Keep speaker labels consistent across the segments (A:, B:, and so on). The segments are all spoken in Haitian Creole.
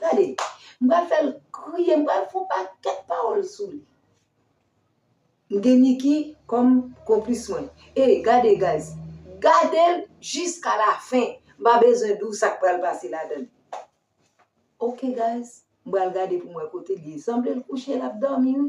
A: Gade, m pral fè l kriye, m pral fè on pakèt pawòl sou li. M gen Niki kòm konplis mwen. Ey, gade guys, gade l jiska lafen. M pa bezwen di w sa k pral pase ladan l. Ok guys, m pral gade pou m wè kote l ye. Sanble l kouche l ap dòmi wi.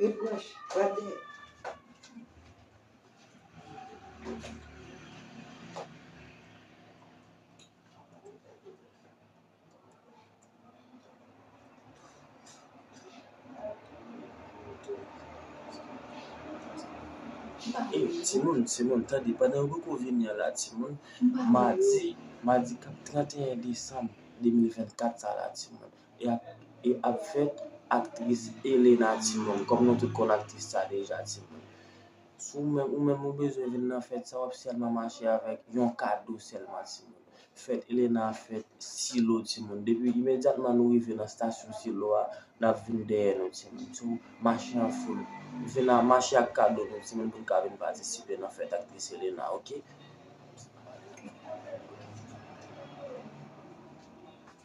A: Ret
B: branche, pral gen. Timoun, timoun, tande, pandan yo poko vini an la timoun, madi, madi kap 31 desanm 2024 sa la timoun, e ap fèt aktris Elena timoun kòm nou tout konn aktris sa deja timoun si ou menm ou menm ou bezwen vin nan fèt sa wap sèlman mache avèk yon kado sèlman timoun fèt Elena ap fèt silo timoun depi imedyatman nou rive nan stasyon silo a nap vin dèyè nou timoun so mache an foul vin a mache ak kado nou timoun poun ka vin patisipe nan fèt aktris Elena ok.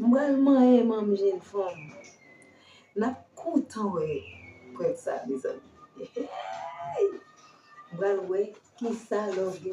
A: M pral manyen manm jèn fanm. Nap kontan wè prank sa mezanmi eeyy m pral wè kisa love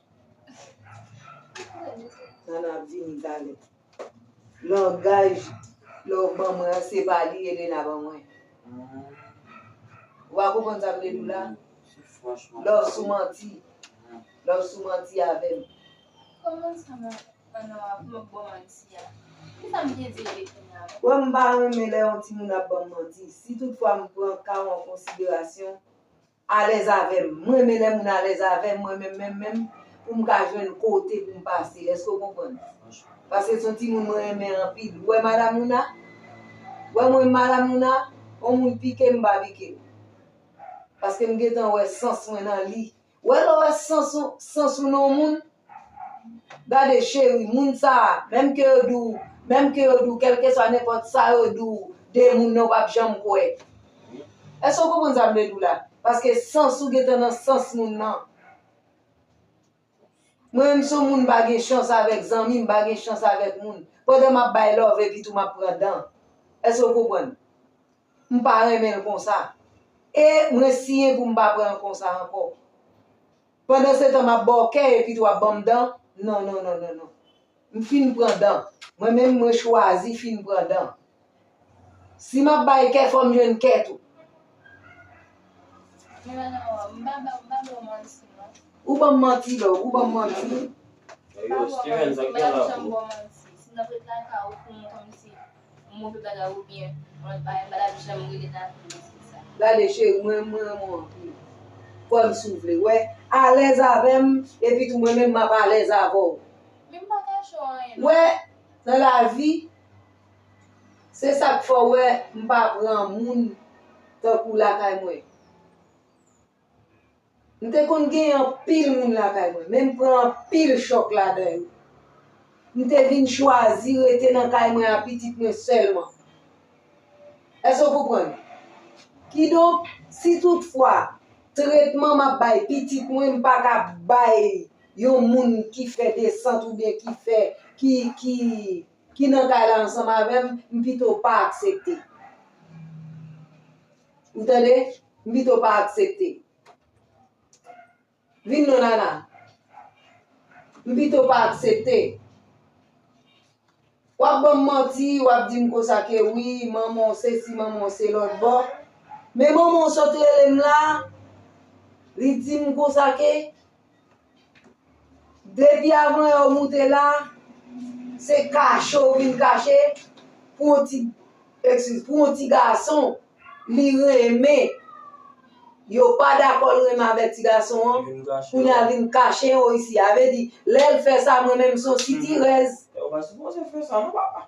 A: Nana ap vini talè. Langaj lè w ban mwen an se pa li Elena ban mwen. Ou pa konprann sa m vle di w la? Lè w sou manti. Lè w sou manti avè m.
C: Kòman sa m ap fè nan wap m ap ban w manti a? Ki sa m te di w
A: depi m la? Wè m pa renmen lè yon timoun ap ban m manti. Si tout fwa m pran ka w an konsiderasyon. Alèz avèm, m renmen lè moun alèz avèm mwen menm menm menm pou m ka jwenn kote pou m pase èske w konprann? Paske se yon timoun mwen renmen anpil ou wè madam Louna? Ou wè mwen madam Louna? On moun pike m m pa pike l paske m gentan wè sans mwen nan li ou wè lè w wè sans ou sans ou nan yon moun Gade cheri, moun sa, menm ke yo di w, menm ke yo di w kèlkeswa nenpòt sa yo di w de moun nan ou pap janm kwè. Èske w konprann sa m vle di w la? Paske sans ou gentan nan sans moun nan. Mwen menm si yon moun pa gen chans avèk zanmi, m pa gen chans avèk moun. Pandan m ap bay love epitou m ap pran dan. Èske w konprann? M pa renmen l konsa. E mwen siyen pou m pa pran l konsa ankò. Pandansetan m ap ba w kè epi tou ap ban m dan, non non non non non. M fin pran dan. Mwen menm mwen chwazi fin pran dan. Si m ap bay kè fò m jwenn kè tou. Men bagay
C: an wa, m pa ba w, m pa ba w manti non. Ou ban m manti
A: la, ou ban m manti. M pa ba w manti, m pa tap janm ba w
B: manti. Si n ap ret lakay ou pou m kòmsi Yon move bagay ou byen
A: mwen pa mpa tap janm rele nan fim nan se sa. Gade cheri mwen mwen renmenw anpil kwèm si w vle wè alèz avèm epi tou mwen menm map alèz avèw Men m pa kache w anyen nan. Wè nan lavi se sak fè w wè m pa pran moun tankou w lakay mwen. M te konn gen anpil moun lakay mwen, men m pran anpil chòk ladan yo. M te vin chwazi rete nan kay mwen ak pitit mwen sèlman. Èske w konprann? Kidonk, si toutfwa tretman m ap bay pitit mwen m pa ka bay li yon moun ki fè desant oubyen ki fè, ki, ki, ki nan kay la ansanm avè m, m pito pa aksepte. Ou tande? M pito pa aksepte. Vin non Nana. M pito pa aksepte. W ap ban m manti, w ap di m konsa ke wi, manman w se si, manman w se lòt bò. Men manman w sot rele m la, li di m konsa ke. Depi avan yo moute la, se kache ou vin kache pou yon ti ekskiz, pou yon ti gason li renmen, yo pa dakò l renmen avèk ti gason an, kounye a vin kache yo isi. A vle di, lè l fè sa mwen menm m son sitirèz. Yo pa sipoze fè
B: sa non papa.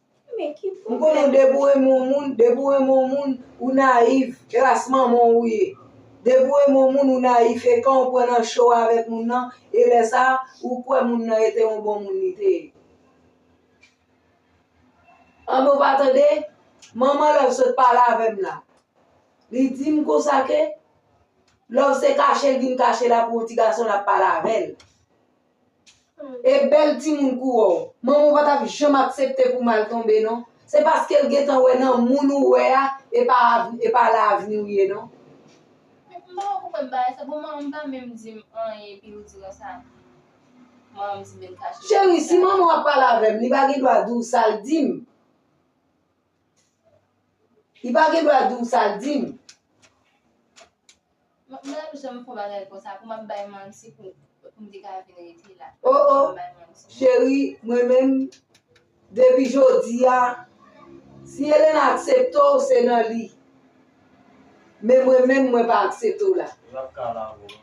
C: M konnen w depi w renmen
A: yon moun, depi w renmen yon moun ou nayif, kras manman w ou ye. Depi w renmen yon moun ou nayif e kan w pran nan cho avèk moun nan e lè sa ou kwè moun nan e te yon bon moun li te ye. Anben w pa tande, manman Love sot pale avè m la, li di m konsa ke Love se kache l vin kache la pou yon ti gason l ap pale avè l. E bèl timoun kou wou. Manman w pa tap janm aksepte pou mal tonbe non. Se paske l gentan wè nan moun ou wè a e pa la avni w ye non. Men m pa
C: wè poukòl bagay sa bon manman m pa menm di m anyen epi ou di mwen sa manman m di men kache. Cheri si manman w ap
A: pale avè m li pa gen dwa di w sa l di m. Li pa gen dwa di w sa l di m.
C: Mwen janm fon bagay konsa pou map bay manti pou pou mte ka vin rete la. Oh oh
A: cheri mwen menm depi jodia si Elena aksepte w se nan li men mwen menm mwen pa aksepte w la. Lap ka lave w manmi.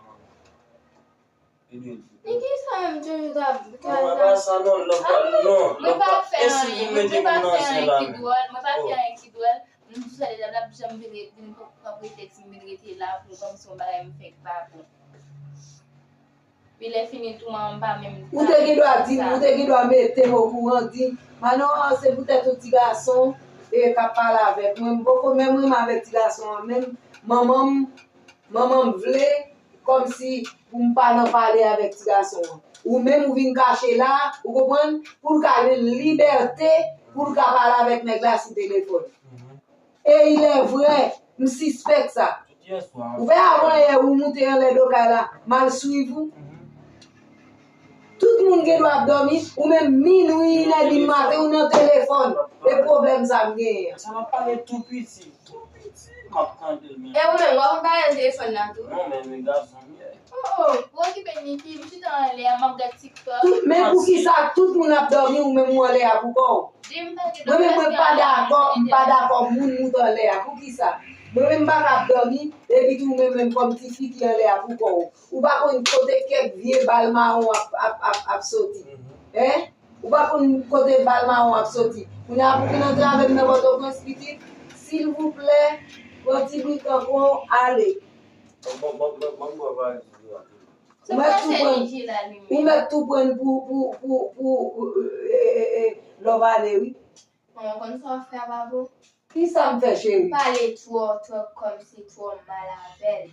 C: Ou te gen dwa di m,
A: ou te gen dwa mete m okouran, di, Manoar, se poutèt yon ti gason e k ap pale avèk mwen. M poko menm renmen avèk ti gason an menm. Manman m, manman m vle Kòmsi pou m pa nan pale avèk ti gason an. Ou menm ou vin kache la, ou konprann, pou l ka jwenn libète pou l ka pale avèk nèg la sou telefòn. E ilèvrè, m sispèk sa. Ou wè avanyè ou moute anlè do kay la, m al swiv ou. Tout moun gen dwa ap domi ou menm minwi in è di maten ou nan telefòn e pwoblèm
B: sa
A: m genyen an. Sa
B: map
A: pale tou
B: piti. Tou
A: piti
B: map tandel
C: menm. E ou menm wap ap pale nan telefòn
A: nan tou. Non men nu gason m ye. Oh oh ou okipe Niki m chita anlè a map gad tiktok. Men poukisa tout moun ap domi ou menm ou anlè a pou kòw. Dim page Mwen menm mwen pa dakò m pa dakò moun mout anlè a poukisa mwen menm m paka ap domi epi tou ou menm menm kòm tifi ki anlè a pou kòw. Ou pa konn kote kèk vye bal mawon ap soti. Hein? Ou pa konn kote bal mawon ap soti. Kounye a pou vin antrave m nan Pòtoprens pitit, silvouplè, pran ti bri kanko w, ale.
C: Banm bwa valiz ou yo rapidman. Ou mèt tou pran, ou mèt tou
A: pran n pou, pou, pou, pou, ee, lè w va ale wi. Bon, ou konn sa w
C: fè a Baboo? Kisa m fè
A: cheri? Pale twò, twòp
C: kòmsi, twò mal avè l.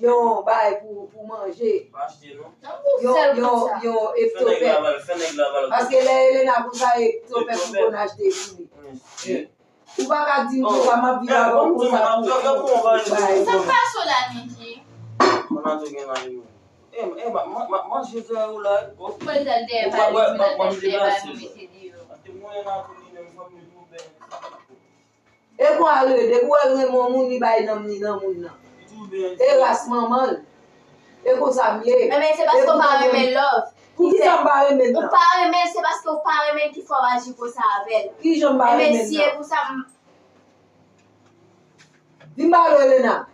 A: yon bay pou pou manje
B: yon
A: eptopè paske lè Elena pou sa eptopè pou kon achte pouli ou pa ka dim pou sa map viv avèw pou sa pou bay
C: sa pa cho la Niki
A: E kon a rele depi wèl renmen yon moun li bay nanm li nan moun nan e ras manmanl e konsam ye Renmen se paske ou pa
C: renmen love Poukisa m pa renmen l
A: nan? Ou pa renmenl
C: se
A: paske ou
C: pa renmenl ki fè w aji konsa avèl Kijan m pa renmen
A: l nan? Mesi e pou sa m. Vin pale Elena.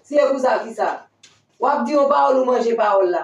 A: Si e pou sa kisa. Wap di yon pawol ou manje pawol la.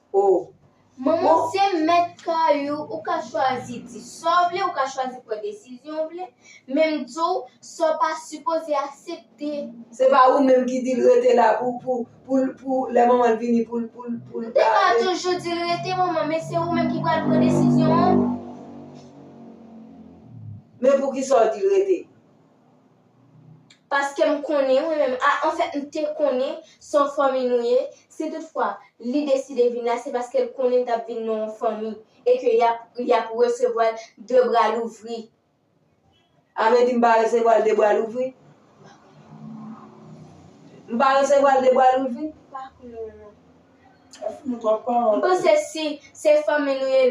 C: Oh.
A: Manman se
C: mèt kay ou, ou ka chwazi di sa w vle, ou ka chwazi pran desizyon w vle, men m di w sa w pa sipoze asepte. Se pa ou menm
A: ki di l rete la pou pou pou l pou lè manman l vini pou l pou l pou l M te ka
C: toujou di l rete manman men se ou menm ki pral pran desizyon an.
A: Men poukisa w di l rete?
C: Paske m konnen, mwen menm, a anfèt m te konnen son fanmi nou ye, si tout fwa li deside vin la se paske l konnen l t ap vin nan yon fanmi e ke y ap resevwa l de bra louvri.
A: A vle di m pa resevwa l de bra louvri? M pa konnen. M pa resevwa l de bra louvri? M pa konnen non.
B: M panse si se
C: fanmi nou ye,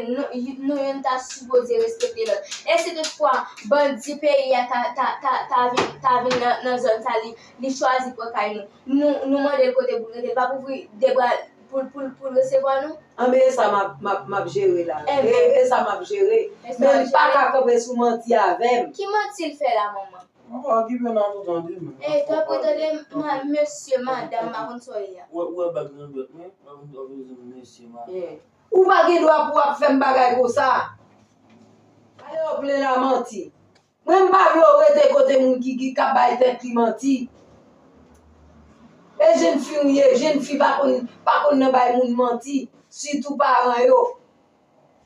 C: nou youn ta sipoze respekte lòt. E si tout fwa bandi peyi a ta vin nan zòn sa li chwazi pran kay nou, nou mande l kote pou l rete, l pa p ouvri de bra l pou l resevwa nou? Anben e sa
A: m ap jere la. E sa m ap jere. Men m pa ka kanpe sou manti avè m. Ki manti l fè la
C: manman?
B: Ou pa gen dwa
A: pou ap fèm bagay konsa. Ale ou plen la manti. Mwen m pa vle ou rete kote moun ki ki kap bay tèt li manti. E jenn fi ou ye, jenn fi pa konn pa konn nan bay moun manti, sitou paran yo.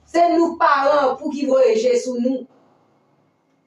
A: Se nou k paran pou ki voye je sou nou.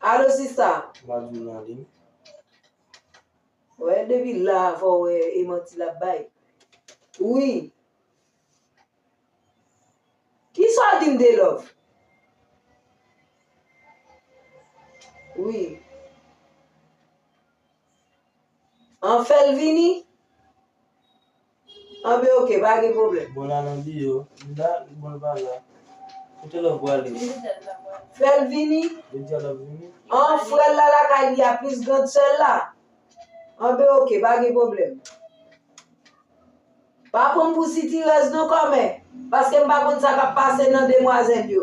A: Alo sista. Wap vin nan ligne. Wè depi la fò wè e manti lap bay. Wi. Kisa w di m de love? Wi. An fèl vini. Anben ok pa gen problem. Bon la nan li yo. Li
B: la li bon pa la. Kote love prale. Fel
A: vini. Li dia lap vini.
B: An frel la
A: lakay li a plis grand sel la. Anben ok pa gen problem. Pa pranm pou sitirèz non kòmè, paske m pa konn sa kap pase nan demwazèl yo.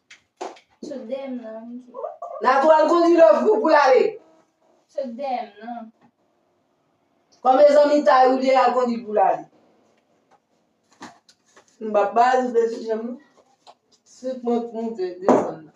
C: Sot dèyè m nan. Natou al
A: kondwi love pou pou l ale. Sot dèyè
C: m nan.
A: Kòmè zanmi Tayou l ye al kondwi l pou l ale. M pa ba l de ti janm non. Sot mwen k moute desann nan.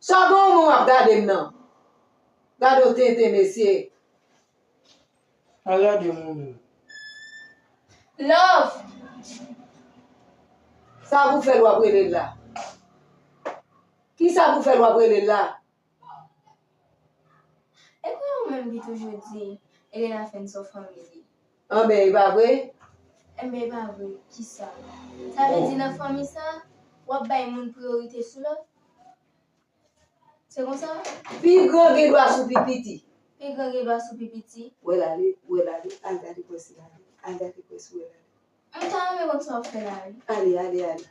A: Sa bon moun ap gadem nan. Gadon tenten mesye. Pa
B: gade moun yo.
C: Love.
A: Sa pou fèl wap relel la. Kisa pou fèl wap relel la.
C: Epa ou menm ki toujou di Elena fè n son fanmi li. Anben e pa
A: vre? Enben e pa
C: vre, kisa? Sa vle di nan fanmi sa, w ap bay moun priyorite sou lòt? Se konsa? Pi gran gen
A: dwa sou pi piti. Pi gran gen dwa sou
C: pi piti. Ou wè l ale, ou wè l
A: ale, al gade kò si l ale, al gade kò si w wè l ale. M ta renmen konn
C: sa w fè la wi. Ale, ale, ale.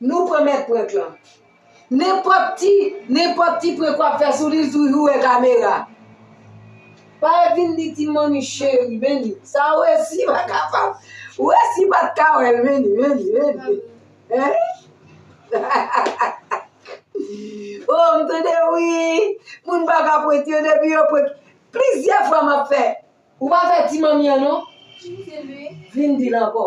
A: Nou pran mèt prank lan. Nenpòt ti, nenpòt ti prank wap fè sou li li toujou wè kamera. Pare vin di ti manmi cheri vini. Sa ou resi pa kapab. Ou resi pat ka wèl vini, vini, vini. Oh m tande wi, moun pa ka prank yo depi yo prank. Plizyè fwa map fè. Ou pa fè ti manmi an non.
C: Vin dil ankò.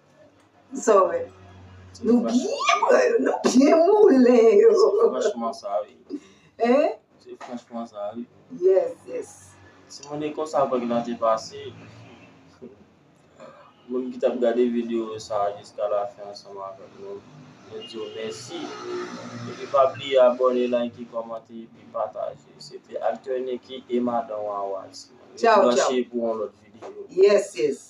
A: Sa w wè? Nou byen pran yo, nou byen moulen yo. Se franchman sa
B: wi. Hein? Se
A: franchman
B: sa wi. Yes,
A: yes. Si moun e
B: konsa vag lan te pase, moun ki tap gade video sa jiska la fen ansanm avèk nou, nou di yo mèsi. Epi pa bliye abòne, like, kòmante epi pataje. Se te Acteur Nicky e Madan Wawa. Tchaw
A: tchaw. Branche
B: pou yon lòt video. Yes, yes.